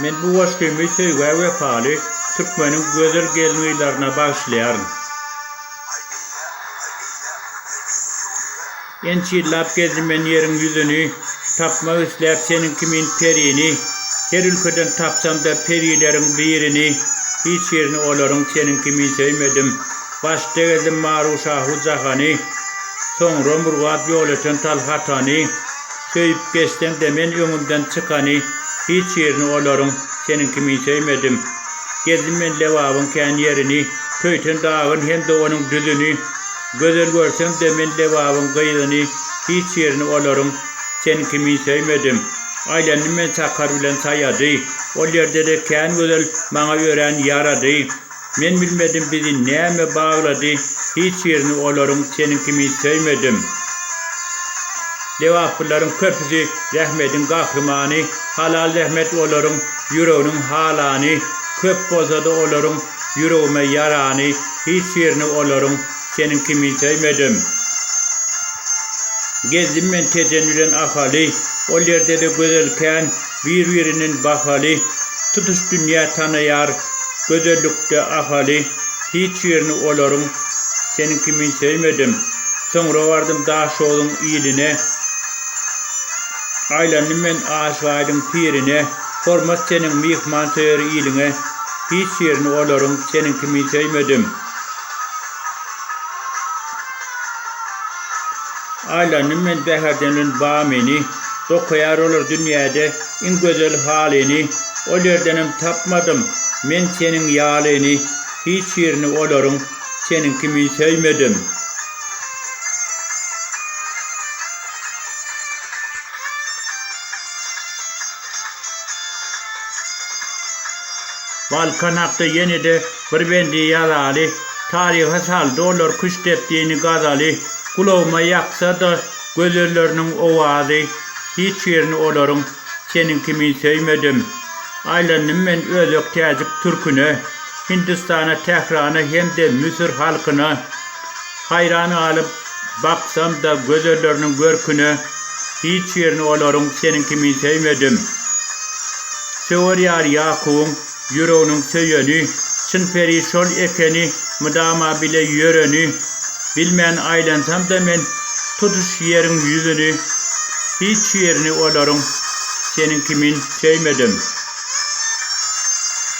Men bu goşgymy söýgä wepaly türkmeniň gözel gelin-gyzlaryna bagyşlaýaryn. Ençe ýyllap gezdim men ýeriň ýüzüni, Tapmak isläp seniň kimin perini. Her ülkeden tapsam-da perileriň birini, Hiç birini olaryň seniň kimin söýmedim. Başda gezdim Maru-şahu jahany, Soňra Murgap ýol eten Talhatany. Söýüp geçseň-de men öňünden çykany hiç ýerini olaryň seniň kimin söýmedim. Gezdim men Lebabyň kän ýerini, Köýten dagyn hem-de onuň düzüni. Gözel görsem-de men Lebabyň gyzyny hiç ýerini olaryň seniň kimin söýmedim. Aýlandym men Sakar bilen Saýady, ol ýerde-de kän gözel maňa örän ýarady. Men bilmedim bizi näme baglady hiç birini olaryň seniň kimin söýmedim. Lebaplylaryň köpüsi zähmediň gahrymany halal zähmet olaryň ýüreginiň halany köp bolsada olaryň ýüregime ýarany hiç birini olaryň seniň kimin söýmedim. Gezdim men tejen bilen Ahaly ol ýerdede gözel kän Bir-birinden bahaly, tutuş dünýä tanaýar Gözellikde Ahaly, hiç birini olaryň Seniň kimin söýmedim. Soňra bardym Daşogzuň iline, Aýlandym men Aşyk Aýdyň pirine, Hormat seniň myhmansöýer iliňe, Hiç birini olaryň Seniň kimin söýmedim. Aýlandym men bäherden-in Bamyny, Dokaýar olar dünýäde iň gözel halyny. Ol ýerdenem tapmadym men seniň ýalyny, Hiç ýerini olaryň seniň kimin söýmedim. Balkan hakda ýene-de. Bir bendi ýazaly, Taryha sal dolar küşt depdini gazaly Gulagyma ýaksa-da gözelleriniň owazy Hiç birini olaryň seniň kimin söýmedim Aýlandym men özbek täjik türküne Hindistana Tährana hem-de Müsür halkyna Haýran galyp baksam-da gözelleriniň görküne Hiç birini olaryň seniň kimin söýmedim Söwer ýar Ýakubyň Ýüreginiň söýeni, Çyn peri şol ekeni, Mydama bile ýöreni, Bilmän aýlansam-da men Tutuş ýeriň ýüzüni, Hiç ýerini olaryň Seniň kimin söýmedim.